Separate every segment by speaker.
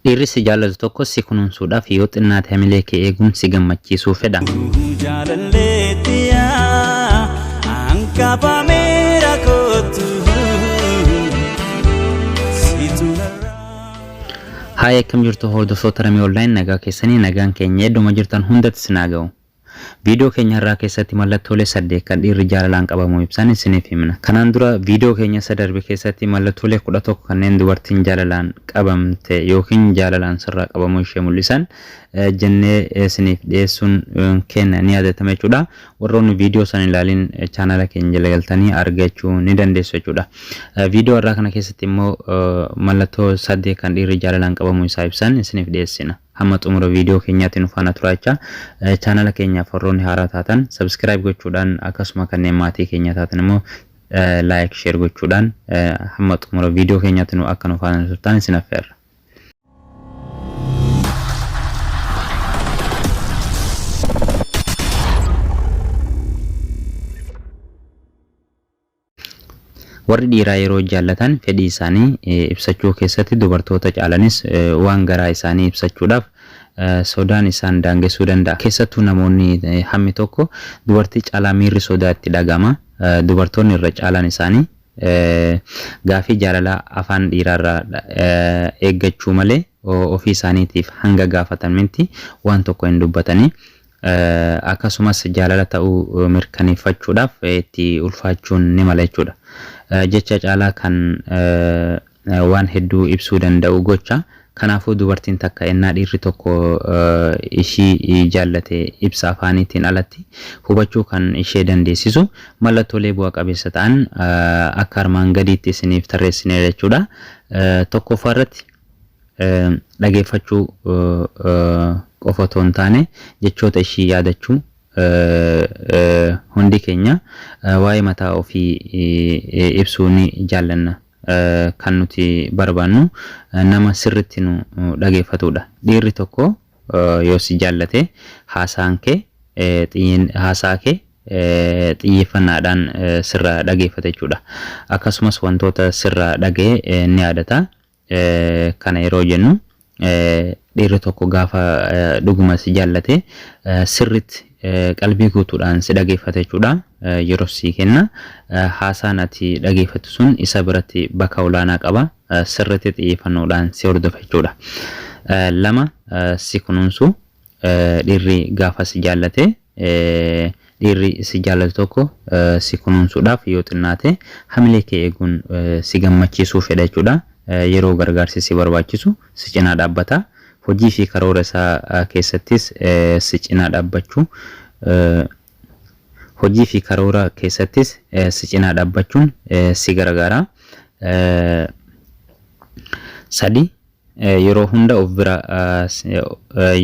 Speaker 1: Dhiirri si jaallatu tokko si kunuunsuudhaaf yoo xinnaate hamilee kee eeguun si gammachiisuu fedha. Jaalalleettiyaa ankabameera kootu situ narraa. Haaya akkam jirtu hordoftoota Ramee Online nagaa keessanii nagaan keenya edduma jirtan hundatti sinaa ga'u. Viidiyoo keenya har'aa keessatti mallattoolee saddeet kan dhiirri jaalalaan qabamu ibsan isiniif himna. Kanaan dura viidiyoo keenya isa darbe keessatti mallattoolee kudha tokko kanneen dubartiin jaalalaan qabamte yookiin jaalalaan sirraa qabamuu ishee mul'isan jennee isiniif dhiyeessuun keenya ni yaadatama jechuudha. Warroonni viidiyoo sana hin ilaalin chaanala keenya jala galtanii argachuu ni dandeessu jechuudha. Viidiyoo har'aa kana keessatti immoo mallattoo saddeet kan dhiirri jaalalaan qabamu isaa ibsan isiniif dhiyeessina. Hamma xumura viidiyoo keenyaatti nu faana turaa jechaa, chaanala keenyaaf warroonni haaraa taatan subscribe gochuudhaan akkasuma kanneen maatii keenyaa taatan immoo like, share gochuudhaan hamma xumura viidiyoo keenyaatti nu akka nu faana turtan isin affeerra. Warri dhiiraa yeroo jaallatan fedhii isaanii ibsachuu keessatti dubartoota caalanis waan garaa isaanii ibsachuudhaaf sodaan isaan daangessuu danda'a. Keessattuu namoonni hammi tokko dubartii caalaa miirri sodaa itti dhaga'ama. Dubartoonni irra caalaan isaanii gaaffii jaalalaa afaan dhiiraarraa eeggachuu malee ofii isaaniitiif hanga gaafatan mitti waan tokko hin dubbatani. Akkasumas jaalala ta'uu mirkaneeffachuudhaaf itti ulfaachuun ni mala jechuudha. Jecha caalaa kan waan hedduu ibsuu danda'u gocha. Kanaafuu dubartiin takka ennaa dhiirri tokko ishii jaallate ibsa afaaniitiin alatti hubachuu kan ishee dandeessisu mallattoolee bu'a qabeessa ta'an akka armaan gadiitti isiniif tarreessineerra jechuudha. Tokkoffaa irratti. dhageeffachuu qofa otoo hin taane jechoota ishii yaadachuu hundi keenya waa'ee mataa ofii ibsuu ni jaallanna. Kan nuti barbaannu nama sirritti nu dhageeffatuudha. Dhiirri tokko yoo si jaallate haasaan kee xiyyin haasaa kee xiyyeeffannaadhaan sirraa dhageeffata jechuudha. Akkasumas wantoota sirraa dhaga'e ni yaadata. Kana yeroo jennu dhiirri tokko gaafa dhuguma si jaallate sirriitti qalbii guutuudhaan si dhageeffata jechuudha. Yeroo sii kenna. Haasaan ati dhageeffattu sun isa biratti bakka olaanaa qaba. Sirriitti xiyyeeffannoodhaan si hordofa jechuudha. Lama si kunuunsu. Dhiirri gaafa si jaallate, Dhiirri si jaallatu tokko si kunuunsuudhaaf yoo xinnaate hamilee kee eeguun si gammachiisuu fedha jechuudha. Yeroo gargaarsi si barbaachisu si cinaa dhaabbata. Hojii fi karoora isaa keessattis si cinaa dhaabbachuu Hojii fi karoora keessattis si cinaa dhaabbachuun si gargaara. 3, Yeroo hunda of bira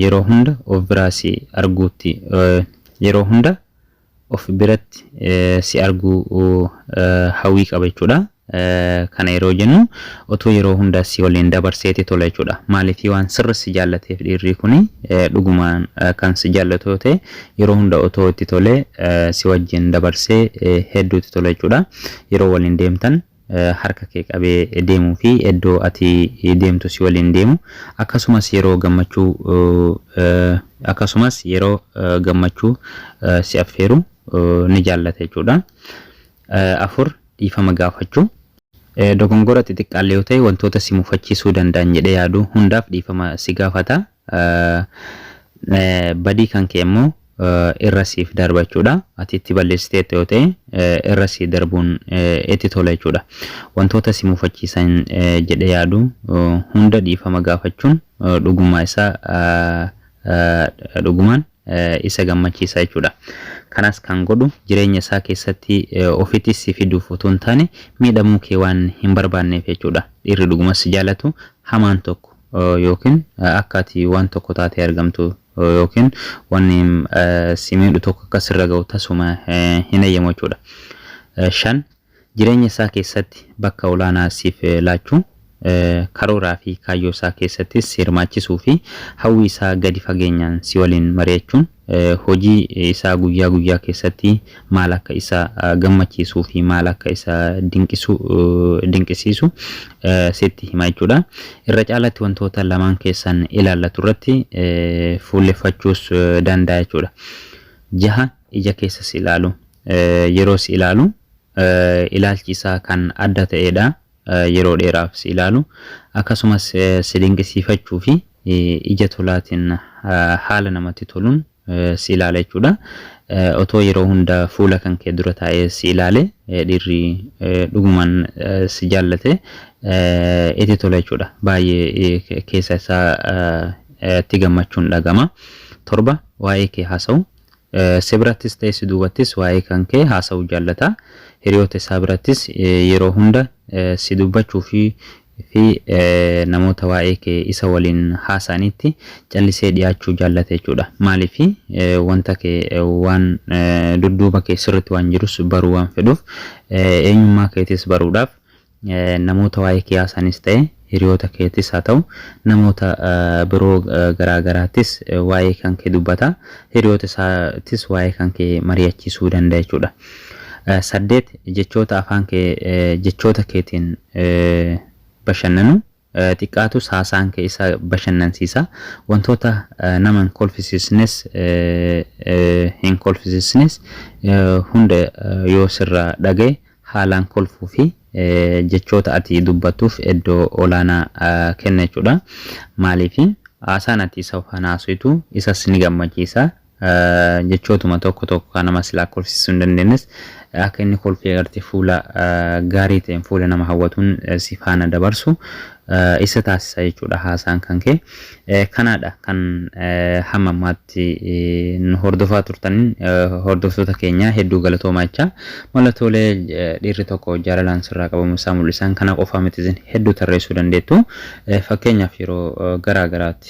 Speaker 1: Yeroo hunda of biraa si arguutti Yeroo hunda of biratti si arguu hawwii qaba jechuudha. Kana yeroo jennu otoo yeroo hunda si waliin dabarseeti tola jechuudha. Maaliif waan sirri si jaallateef dhiirrii kuni dhugumaan kan si jaallatu yoo ta'e yeroo hunda otoo itti tolee si wajjin dabarsee hedduutti tola jechuudha. Yeroo waliin deemtan harka kee qabee deemuu fi iddoo ati deemtu si waliin deemu, akkasumas yeroo gammachuu akkasumas yeroo gammachuu si affeeru ni jaallata jechuudha. 4, Dhiifama Gaafachuu. Dogongora xixiqqaallee yoo ta'e wantoota si mufachiisuu danda'an jedhee yaadu hundaaf dhiifama si gaafata. Badii kan kee immoo irra siif darba jechuudha. Ati itti balleessiteetta yoo ta'e irra sii darbuun itti tola jechuudha. Wantoota si mufachiisan jedhee yaadu hunda dhiifama gaafachuun dhugummaa isaa dhugumaan isa gammachiisa jechuudha. Kanas kan godhu jireenya isaa keessatti ofitti si fiduuf utuu hin taane miidhamuu kee waan hin barbaanneef jechuudha. Dhiirri dhuguma si jaalatu hamaan tokko yookiin akka ati waan tokko taatee argamtu yookiin wanni si miidhu tokko akka sirra ga'u tasuma hin eeyyamu jechuudha. Shan Jireenya isaa keessatti bakka olaanaa siif laachuu, karooraa fi kaayyoo isaa keessattis si hirmaachisuu fi hawwii isaa gadi fageenyaan si waliin mari'achuun hojii isaa guyyaa guyyaa keessatti maal akka isa gammachiisuu fi maal akka isa dinqisu, dinqisiisu sitti hima jechuu dha. Irra caalaatti wantoota lamaan keessan ilaallatu irratti fuulleffachuus danda'a jechuu dha. 6. ija keessa si ilaalu. Yeroo si ilaalu ilaalchi isaa kan adda ta'ee dha. Yeroo dheeraaf si ilaalu. Akkasumas si dinqisiifachuu fi ija tolaatiin haala namatti toluun si ilaala jechuu dha. Otoo yeroo hunda fuula kan kee dura taa'ee si ilaale dhiirri dhugumaan si jaallate itti tola jechuu dha. Baay'ee keessa isaa itti gammachuun dhagama. Torba waa'ee kee haasa'u. Si birattis ta'e si duubattis waa'ee kan kee haasa'uu jaallata. Hiriyoota isaa birattis yeroo hunda si dubbachuu fi fi namoota waa'ee kee isa waliin haasa'anitti callisee dhiyaachuu jaallata jechuudha. Maaliif wanta kee waan dudduuba kee sirritti waan jirus baruu waan fedhuuf eenyummaa keetis baruudhaaf Namoota waa'ee kee haasa'anis ta'e hiriyoota keettis haa ta'u, namoota biroo garaa garaattis waa'ee kan kee dubbata. Hiriyoota isaattis waa'ee kan kee mari'achiisuu danda'a jechuudha. Saddeet, jechoota afaan kee jechoota keetiin bashannanuu xiqqaatus haasaan kee isa bashannansiisa. Wantoota nama hin kolfisiisnes hin kolfisiisnes hunda yoo sirraa dhagahe haalaan kolfuu fi jechoota ati dubbattuuf eddoo olaanaa kenna jechuudha. Maaliif haasaan ati isa faana haasoytu isas ni gammachiisa jechootuma tokko tokko kan nama silaa kolfisiisuu hin dandeenyes akka inni kolfee agartee fuula gaarii ta'een fuula nama hawwatuun si faana dabarsu isa taasisa jechuudha haasaan kan kee. Kanaadha kan hamma ammaatti nu hordofaa turtaniin hordoftoota keenya hedduu galatoomaa jechaa mallattoolee dhiirri tokko jaalalaan sirraa qabamu isaa mul'isan kana qofaa miti isin hedduu tarreessuu dandeettu fakkeenyaaf yeroo garaa garaatti.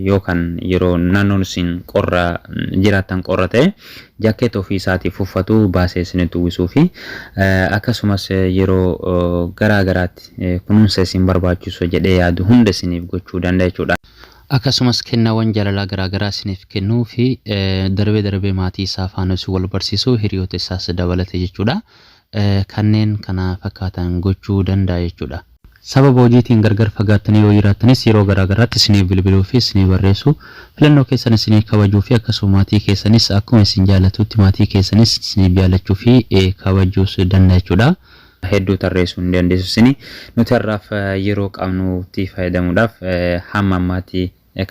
Speaker 1: yoo kan yeroo naannoon isin qorra jiraattan qorra ta'e jaakkeeta ofii isaatiif uffatu baasee isinitti uwwisuu fi akkasumas yeroo garaa garaatti kunuunsa isin barbaachisu jedhee yaadu hunda isiniif gochuu danda'a jechuudha. Akkasumas kennaawwan jaalalaa garaa garaa isiniif kennuu fi darbee darbee maatii isaa faana isin wal barsiisuu hiriyoota isaas dabalate jechuudha. kanneen kana fakkaatan gochuu danda'a jechuudha. Sababa hojiitiin gargar fagaattanii yoo jiraattanis yeroo garaa garaatti isiniif bilbiluu fi isinii barreessu. Filannoo keessan isinii kabajuu fi akkasuma maatii keessanis akkuma isin jaallatuutti maatii keessanis isiniif jaallachuu fi kabajuus danda'a jechuudha. hedduu tarreessuu ni dandeessu isin. Nuti har'aaf yeroo qabnutti fayyadamuudhaaf hamma ammaatti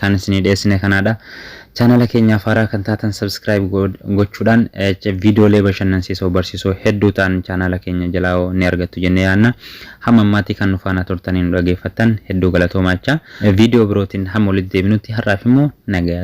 Speaker 1: Kan isinii dhiyeessine kanaadha. Chaanala keenyaaf haaraa kan taatan subscribe gochuudhaan viidiyoolee bashannansiisoo barsiisoo hedduu ta'an chaanala keenya jalaa ni argattu jennee yaadna. Hamma ammaatii kan nu faana turtanii nu dhageeffattan hedduu galatoomaachaa. Viidiyoo birootiin hamma walitti deebinutti har'aaf immoo nagayaatti.